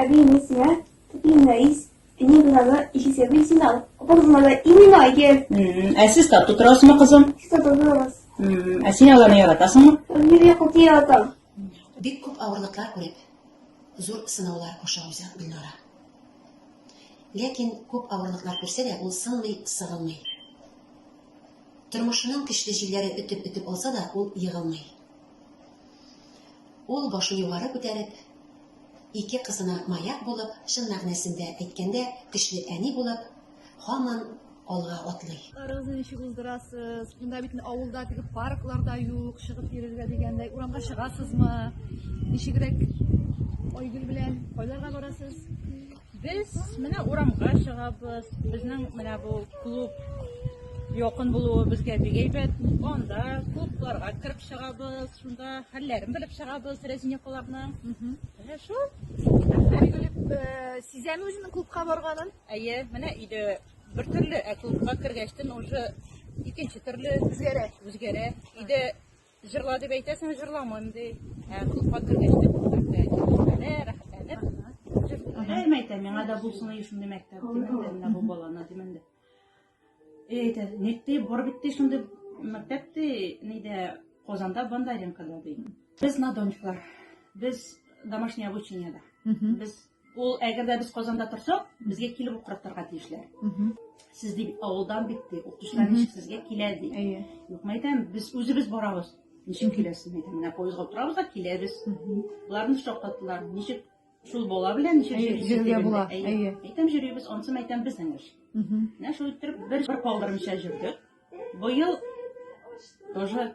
Әби, мин сиңа Әтием Рәис, әнием Гүзалны ише сәби син ал. Апа кызына да имин айгер. Ә сез тату торасызмы, кызым? Сез тату торасыз. Ә син аларны яратасыңмы? Мин бик күп яратам. Бик күп авырлыклар күреп, зур сынаулар аша уза Гөлнара. Ләкин күп авырлыклар күрсә дә, ул сынмый, сыгылмый. Тормышының көчле җилләре өтеп-өтеп алса да, ул егылмый. Ул башын югары күтәреп, Ике кызына маяк булып, чын мәгънәсендә әйткәндә, көчле әни булып, һаман алга атлый. Арыгызны ничек уздырасыз? Монда бит авылда теге парклар да юк, чыгып йөрергә дигәндәй. Урамга чыгасызмы? Ничегрәк Айгөл белән кайларга барасыз? Без менә урамга чыгабыз. Безнең менә бу клуб якын булуы безгә бик әйбәт. Анда клубларга кереп чыгабыз, шунда хәлләрен белеп чыгабыз Рәзинякаларның. Менә шул. Э, Сизәме үзенең клубка барганын? Әйе, менә иде бер төрле, ә клубка кергәчтен уже икенче төрле Үзгәрә. үзгәрә. Иде Җырла дип әйтәсең, җырламыйм ди. Ә клубка кергәч тә күрсәтә, чишмәдә, рәхәтләнеп. Әйм әйтә, миңа да булсын ди шундый мәктәп, димен дә, бу баланы, димен дә. И әйтә, ник ди, бар бит ди шундый мәктәп ди, нидә, Казанда Бандаренкада ди. Без на дончклар, без домашнее обучениеда. Без Ул әгәр дә без Казанда торсак, безгә килеп укыртырга тиешләр. Сез дип авылдан бит ди, укытучылар ничек сезгә килә ди. Әйе. Юк, мәйтәм, без үзебез барабыз. Ничек киләсез? Мәйтәм, менә поездга утырабыз да киләбез. Боларны шаккаттылар. Ничек шул бала белән ничек Әйе, йөрисез йөрергә дигәндә, була, әйе. әйе. Мәйтәм, йөрибез, ансы мәйтәм безнең эш. Менә шул иттереп бер бер калдырмыйча җөрдек. Быел тоже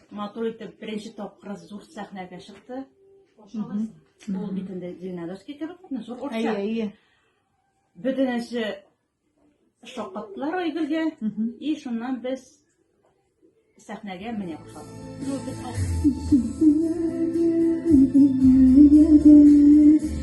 Матур итеп беренче тапкыр зур сәхнәгә чыкты. Ул бит инде Зеленодольский кебек, ну, зур урта. Әйе, әйе. Бөтенесе шаккаттылар Айгөлгә, и шуннан без сәхнәгә менә башладык.